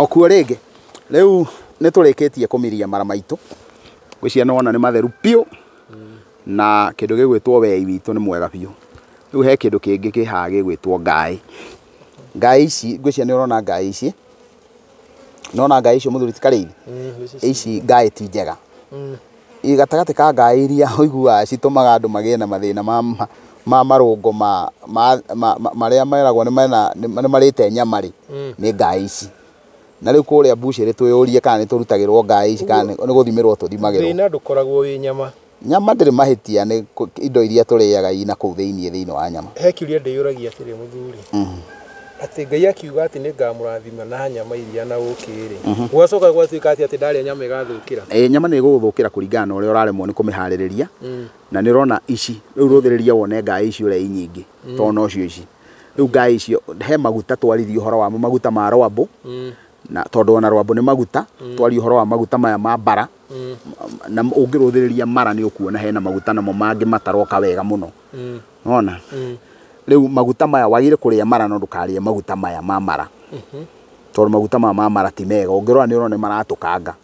Okuo rĩngĩ rĩu nĩ tũrĩkĩtie kũmiria mara maitũ, ngwĩciria nĩ wona nĩ matheru biũ na kĩndũ gĩgwĩtwo wei witũ nĩ mwega biũ. Rĩu he kĩndũ kĩngĩ kĩ haha gĩgwĩtwo ngaĩ. Ngaĩ ici ngwĩciria nĩ ũrona ngaĩ ici, nĩ wona ngaĩ icio mũthuri ti Karĩithia? Ici ngaĩ ti njega. ĩĩ gatagatĩ ka ngaaĩ iria ũiguaga citũmaga andũ magĩe na mathĩna ma marũngo ma marĩa meragwo nĩ marĩte nyama rĩ, nĩ ngaaĩ ici. Na rĩu kũrĩa mbucĩrĩ twĩyũrie kana nĩ tũrutagĩrwo ngaaĩ ici kana nĩ gũthimĩrwo tũthimagĩrwo. Thĩna ndũkoragwo wĩ nyama. Nyama ndĩrĩ mahĩtia nĩ indo iria tũrĩaga i nakũu thĩinĩ thĩinĩ wa nyama. He kĩũria ndĩyũragia atĩrĩ mũthuri. atĩ Ngai akiuga atĩ nĩ ngamũrathima na nyama iria na ũkĩ-rĩ, mhm. gwacoka gwatuĩka atĩ atĩ ndarĩa nyama ĩgathũkĩra? Ĩĩ, nyama nĩ ĩgũgũthũkĩra kũringana na ũrĩa ũraremwo nĩ kũmĩharĩrĩria, mm. na nĩ ũrona ici, rĩu rũthĩrĩria wone ngaĩ ici ũrĩa i nyingĩ, mm. to nocio ici. Rĩu ngaĩ icio, he maguta twaririe ũhoro wamo, maguta ma rwambũ, mm. na tondũ ona rwambũ nĩ maguta, twarie ũhoro wa maguta maya ma bara, na ũngĩrũthĩrĩria mara nĩ ũkuona hena maguta namo mangĩ mataroka wega mũno. Nona? Rĩu maguta maya wagĩrĩire kũrĩa mara no ndũkarĩe maguta maya ma mara. Tondũ maguta maya ma mara ti mega. Ũngĩrora nĩ ũrona nĩ maratũkanga.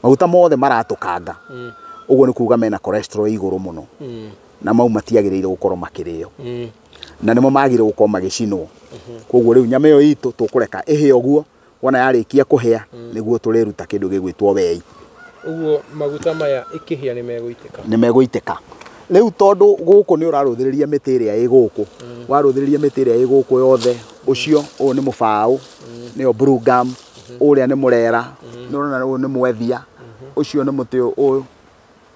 Maguta mothe maratũkanga. Ũguo nĩ kuuga mena cholesterol ĩ igũrũ mũno. Na mau matiagĩrĩire gũkorwo makĩrĩo. Na nĩmo magĩrĩirwo gũkorwo magĩcinwo. Kwoguo rĩu nyama ĩyo itũ tũkũreka ĩhĩe ũguo. wona yarĩkia kũhĩa mm. nĩguo tũrĩruta kĩndũ gĩgwĩtwo wei ũguo maguta maya ĩkĩhĩa nĩ megũitĩka nĩ megũitĩka rĩu tondũ gũkũ nĩ ũrarũthĩrĩria mĩtĩ ĩrĩa ĩ gũkũ mm. warũthĩrĩria mĩtĩ ĩrĩa ĩ gũkũ yothe mm. ũcio ũyũ nĩ mũbaũ mm. nĩyo blue gum mm-hmm. ũrĩa nĩ mũrera nĩ ũrona ũyũ nĩ mwethia mm-hmm. ũcio nĩ mũtĩ ũyũ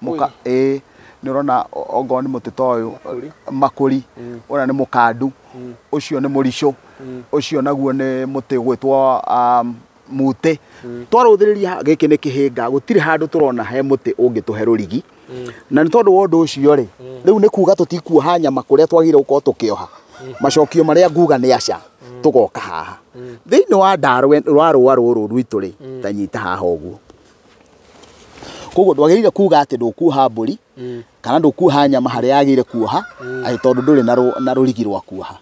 Mũka, ĩĩ nĩ ũrona o- ongorwo nĩ mũtĩ ta ũyũ Makũri. makũri ũrĩa nĩ mũkandu ũcio nĩ mũricũ ũcio naguo nĩ mũtĩ ũgwĩtwo um, mutĩ twarũthĩrĩria gĩkĩ nĩ kĩhĩnga gũtirĩ handũ tũrona he mũtĩ ũngĩtũhe rũrigi na nĩ tondũ wa ũndũ ũcio rĩ rĩu nĩ kuga tũtikuoha nyama kũrĩa twagĩrĩire gũkorwo tũkĩoha macokio marĩa nguga nĩ aca tũgoka haha thĩinĩ wa ndarwe rwa rũa rũrũ rwitũ rĩ tanyita haha ũguo koguo ndwagĩrĩire kuga atĩ ndũkuoha mbũri kana ndũkuoha nyama harĩa yagĩrĩire kuoha atĩ tondũ ndũrĩ na rũ- na rũrigi rwa kuoha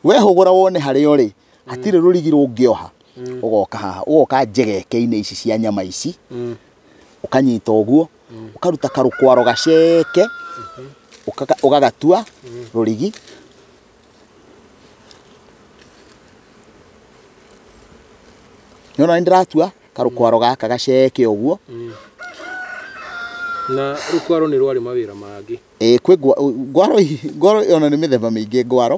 wehũgũra wone harĩa ũrĩ hatirĩ rũrigi rũngĩoha ũgoka haha ũgoka njegeke-inĩ ici cia nyama ici ũkanyita ũguo ũkaruta karũkwaro gaceke ũkaka- ũgagatua rũrigi nĩona nĩ ndĩratua karũkwaro gaka gaceke ũguo na rũkwaro nĩ rwarĩ mawĩra mangĩ Ĩĩ, kwĩ ngwa- ngwaro i- ngwaro ona nĩ mĩthemba mĩingĩ ngwaro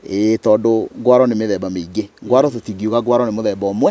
Ĩĩ, tondũ ngwaro nĩ mĩthemba mĩingĩ ngwaro tũtingiuga ngwaro nĩ mũthemba ũmwe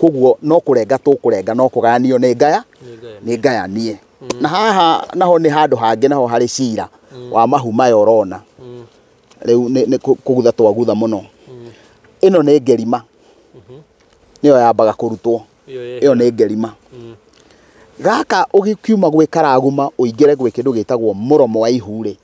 koguo no kũrenga tũkũrenga no kũgayanio nĩ ngaya nĩ ngayanie na haha naho nĩ handũ hangĩ naho harĩ cira wa mahu maya ũrona rĩu nĩ nĩ kũ- kũgutha twagutha mũno ĩno nĩ ngerima nĩyo yambaga kũrutwo ĩyo nĩ ngerima gaka ũkiuma gwĩ karaguma ũingĩre gwĩ kĩndũ gĩtagwo mũromo wa ihu rĩ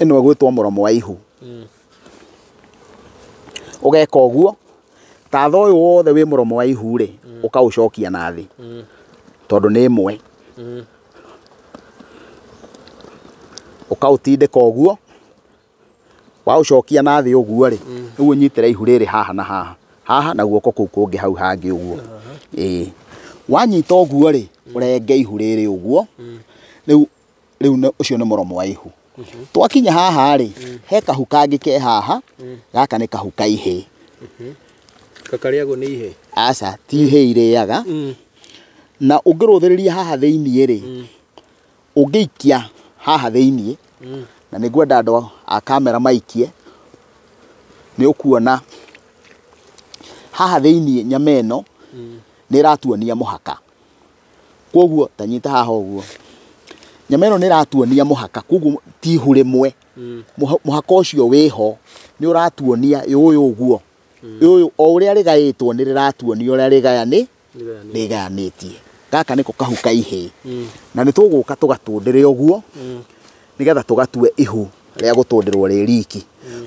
Ĩno ĩgwĩtwo mũromo wa ihu. Ũgeka ũguo, tatha ũyũ wothe wĩ mũromo wa ihu rĩ, ũkaũcokia na thĩ tondũ nĩ ĩmwe. Ũkaũtindĩka ũguo, waũcokia na thĩ ũguo rĩ, rĩu ũnyitĩrĩre ihu rĩrĩ haha na haha, haha na guoko kũu kũngĩ hau hangĩ ũguo. Ĩĩ. Wanyita ũguo rĩ, ũrenge ihu rĩrĩ ũguo, rĩu rĩu nĩ- ũcio nĩ mũromo wa ihu twakinya haha rĩ he kahu kangĩ ke haha gaka nĩ kahu ka ihĩ kakarĩagwo nĩ ihe aca ti ihĩ irĩaga na ũngĩrũthĩrĩria haha thĩiniĩ rĩ ũngĩikia haha thĩiniĩ na nĩ ngwenda andũ a kamera maikie nĩ ũkuona haha thĩiniĩ nyama ĩno nĩ ĩratuonia mũhaka Koguo ta nyita haha ũguo. Nyama ĩno nĩ ĩratuonia mũhaka, koguo ti ihu rĩmwe. Mũha- Mũhaka ũcio wĩho nĩ ũratuonia ĩ ũyũ ũguo. Ĩ ũyũ o ũrĩa rĩgaĩtwo nĩ rĩratuonia ũrĩa rĩgayani rĩgayanĩtie. Gaka nĩko kahu ka ihĩĩ. Na nĩ tũgũka tũgatũndĩre ũguo nĩgetha tũgatue ihu rĩa gũtũndĩrwo rĩ riki.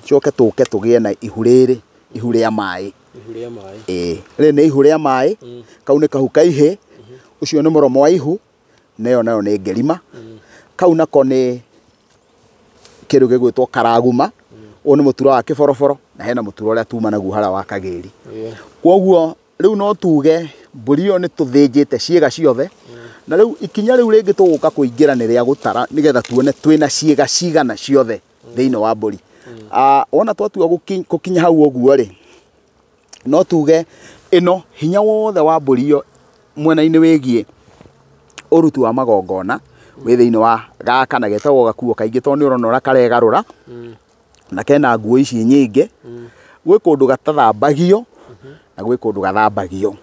Tũcoke tũke tũgĩe na ihu rĩrĩ, ihu rĩa maĩ. ĩĩ rĩrĩ nĩ ihu rĩa maĩ, kau nĩ kahu ka ihĩ, ũcio nĩ mũromo wa ihu, na ĩyo nayo nĩ ngerima. Kau nako nĩ kĩndũ gĩgwĩtwo karaguma, ũyũ nĩ mũtura wa kĩboroboro, na hena mũtura ũrĩa tuma naguo harĩa wa kagĩri. Koguo rĩu no tuge mbũri ĩyo nĩ tũthĩnjĩte ciĩga ciothe, na rĩu ikinya rĩu rĩngĩ tũgũka kũingĩra nĩ rĩa gũtara nĩgetha tuone twĩna ciĩga cigana ciothe thĩinĩ wa mbũri Ah, wona twatua gũki- gũkinya hau ũguo rĩ no tuge ĩno hinya wothe wa mbũri ĩyo mwena-inĩ wĩgiĩ ũruti wa magongona wĩ thĩinĩ wa gaka na getagwo gakuo kaingĩ tondũ nĩ ũrona ũrĩa karegarũra na kena nguo ici nyingĩ gwĩ kũndũ gatathambagio na gwĩ kũndũ gathambagio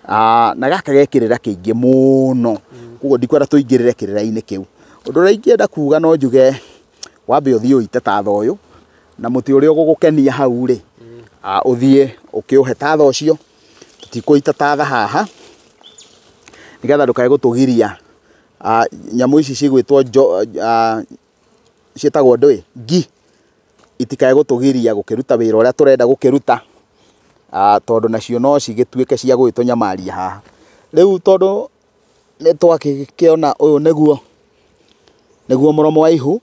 Ah, na gaka ge kĩrĩra kĩingĩ mũno koguo ndikwenda tũingĩrĩre kĩrĩra-inĩ kĩu ũndũ ũrĩa ingĩenda kuga no njuge wambe ũthiĩ ũite tatha ũyũ na mũtĩ ũrĩa ũgũgũkenia hau rĩ ah, ũthiĩ ũkĩũhe tatha ũcio tũtikũita tatha haha nĩgetha ndũkae gũtũgiria Ah, nyamũ ici cigwĩtwo njo- ah, ciĩtagwo ndũĩ, ngi, itikae gũtũgiria gũkĩruta wĩra ũrĩa tũrenda gũkĩruta, tondũ nacio no cigĩtuĩke cia gũgĩtũnyamaria haha. Rĩu tondũ nĩ twakĩona ũyũ nĩguo mũromo wa ihu,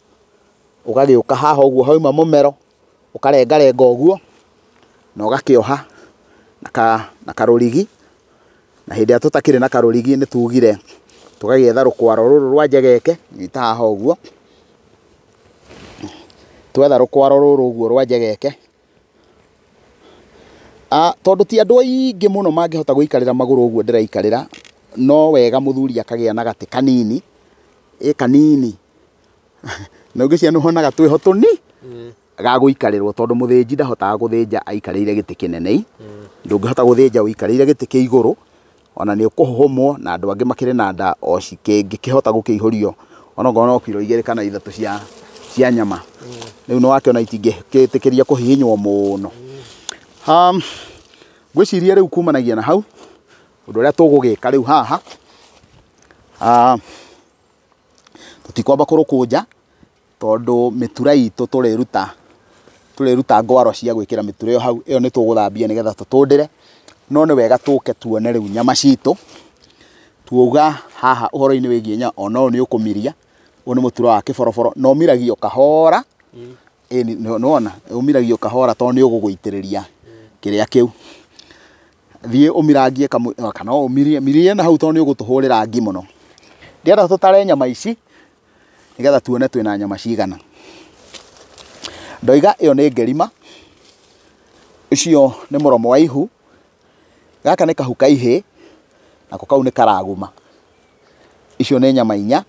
ũgagĩũka haha ũguo hauma mũmero. ũkarengarenga ũguo na ũgakĩoha na karũrigi, na hĩndĩ ĩrĩa tũtakĩrĩ na karũrigi nĩ tugire tũgagĩetha rũkwaro rũrũ rwa njegeke ta haha ũguo, twetha rũkwaro rũrũ ũguo rwa njegeke, tondũ ti andũ aingĩ mũno mangĩhota gũikarĩra magũrũ ũguo ndĩraikarĩra, no wega mũthuri akagĩa na gatĩ kanini, ĩ kanini. na ũngĩciona ũhona gatwĩho tũni mm. ga gũikarĩrwo tondũ mũthĩnji ndahotaga gũthĩnja aikarĩire gĩtĩ kĩnene mm. ndũngĩhota gũthĩnja ũikarĩire gĩtĩ kĩ igũrũ ona nĩ ũkũhũmwo na andũ angĩ makĩrĩ na nda o cikĩngĩkĩhota gũkĩihũrio onokorwo no kiro igĩrĩ kana ithatũ cia cia nyama mm. rĩu nĩ wakĩona itingĩkĩtĩkĩria kũhihinywo mũno um, ngwĩciria rĩu kumanagia na hau ũndũ ũrĩa tũgũgĩka rĩu haha uh, tũtikwamba kũrũkũnja tondũ mĩtura itũ tũrĩruta, tũrĩruta ngwaro cia gwĩkĩra mĩtura ĩyo hau, ĩyo nĩtũgũthambia nĩgetha tũtũndĩre, no nĩ wega tũke tuone rĩu nyama citũ, tuoiga haha ũhoro-inĩ wĩgiĩ nyama, ona ũyũ nĩũkũmiria, ũyũ nĩ mũtura wa kĩboroboro, na ũmiragio kahoora, ĩni nĩwona, ũmiragio kahoora tondũ nĩũgũgũitĩrĩria kĩrĩa kĩu. Thiĩ ũmirangie kamũi kana ũmirie mirie na hau tondũ nĩ ũgũtũhũrĩra ngi mũno. Ndĩrenda tũtare nyama ici nĩgetha tuone twĩna nyama cigana. Ndoiga ĩyo nĩ ngerima, ũcio nĩ mũromo wa ihu, gaka nĩ kahu ka ihĩĩ, nako kau nĩ karaguma. Icio nĩ nyama inya.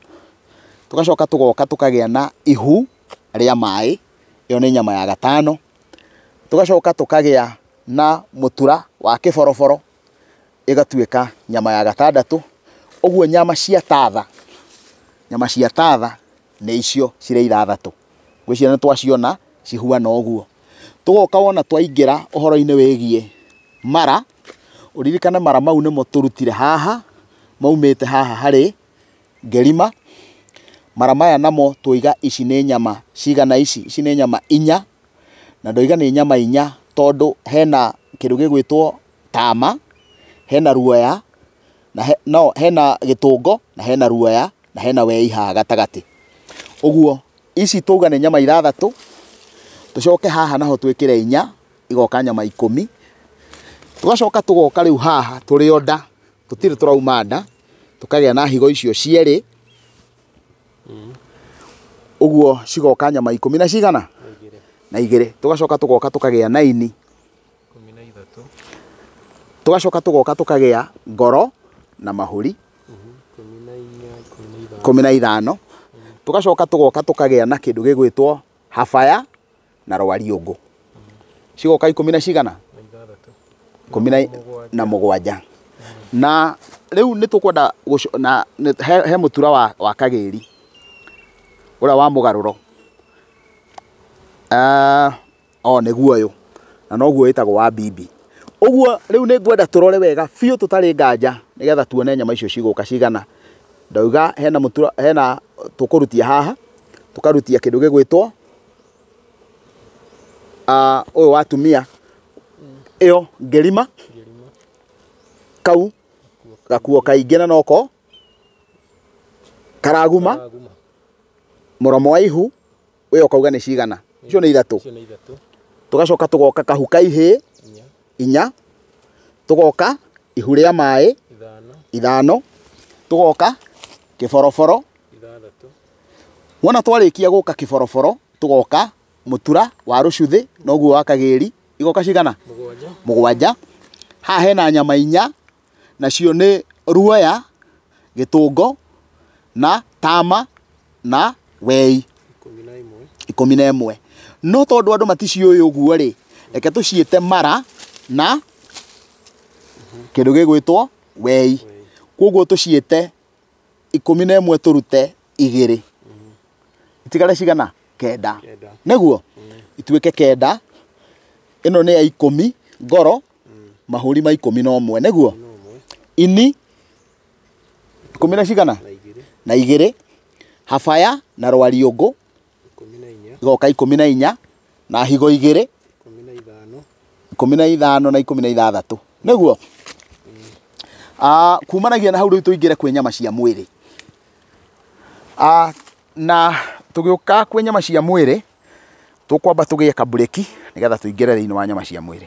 Tũgacoka tũgoka tũkagĩa na ihu rĩa maĩ, ĩyo nĩ nyama ya gatano. tũgacoka tũkagĩa na mũtura wa kĩboroboro, ĩgatuĩka nyama ya gatandatũ. Ũguo nyama cia tatha, nyama cia tatha nĩ icio cirĩ ithathatũ. Ngwĩciria nĩ twaciona cihuana ũguo. Tũgoka wona twaingĩra ũhoro-inĩ wĩgiĩ mara, ũririkane mara mau nĩmo tũrutire haha, maumĩte haha harĩ. ngerima mara maya namo twoiga ici nĩ nyama cigana ici, ici nĩ nyama inya, na ndoiga nĩ nyama inya tondũ hena kĩndũ gĩgwĩtwo tama, hena ruoya, na he no hena gĩtũngo, na hena ruoya, na hena wei haha gatagatĩ. Ũguo ici twauga nĩ nyama ithathatũ, tũcoke haha naho twĩkĩre inya, igoka nyama ikũmi, tũgacoka tũgoka rĩu haha tũrĩ o nda. Tũtirĩ tũrauma nda, tũkagĩa na higo icio cierĩ, ũguo cigoka nyama ikũmi na cigana? Na igĩrĩ. Tũgacoka tũgoka tũkagĩa na ini, tũgacoka tũgoka tũkagĩa ngoro na mahũri, ikũmi na ithano. Tũgacoka tũgoka tũkagĩa na kĩndũ gĩgwĩtwo habaya. na rwariũngũ cigoka ikũmi na cigana ikũmi na- na mũgwanja na rĩu nĩ tũkwenda gũco- na nĩ- he- he mũtura wa, wa kagĩri ũrĩa wa mũgarũro Ah, o nĩguo ũyũ na noguo wĩtagwo wa bibi ũguo rĩu nĩ ngwenda tũrore wega biũ tũtarĩ nganja nĩgetha tuone nyama icio cigũka cigana ndauga hena mũtura hena tũkũrutia haha tũkarutia kĩndũ gĩgwĩtwo Ah, ũyũ wa atumia ĩyo ngerima kau gakuo kaingĩ na noko karaguma Aguma. mũromo wa ihu ũyũ ũkauga nĩ cigana icio nĩ ithatũ Icio nĩ ithatũ. tũgacoka tũgoka kahu ka ihĩ Inya. inya tũgoka ihu rĩa maĩ Ithano. ithano tũgoka kĩboroboro Ithathatũ. Wona twarĩkia gũka Kĩboroboro, tũgoka Mũtura, wa Rũcuthĩ, na ũguo wa Kagĩri, igoka cigana? Mũgwanja. Mũgwanja. Haha hena nyama inya, nacio nĩ Ruoya, Gĩtũngo, na Tama, na Wei. Ikũmi na ĩmwe. Ikũmi na ĩmwe. No tondũ andũ maticiũĩ ũguo-rĩ, reke tũciĩte Mara na kĩndũ gĩgwĩtwo Wei. Kuoguo tũciĩte ikũmi na ĩmwe tũrute igĩrĩ itigare cigana kenda nĩguo ituĩke kenda ĩno nĩ ya ikũmi ngoro mahũri ma ikũmi na ũmwe nĩguo ini ikũmi na cigana na igĩrĩ habaya na rwariũngũ igoka ikũmi na inya na higo igĩrĩ ikũmi na ithano na ikũmi na ithathatũ nĩguo ah, kumanagia na hau rĩu tũingĩre kwĩ nyama cia mwĩrĩ ah, na tũgĩũka kwĩ nyama cia mwĩrĩ tũkwamba tũgĩe kabureki nĩgetha tũingĩre thĩinĩ wa nyama cia mwĩrĩ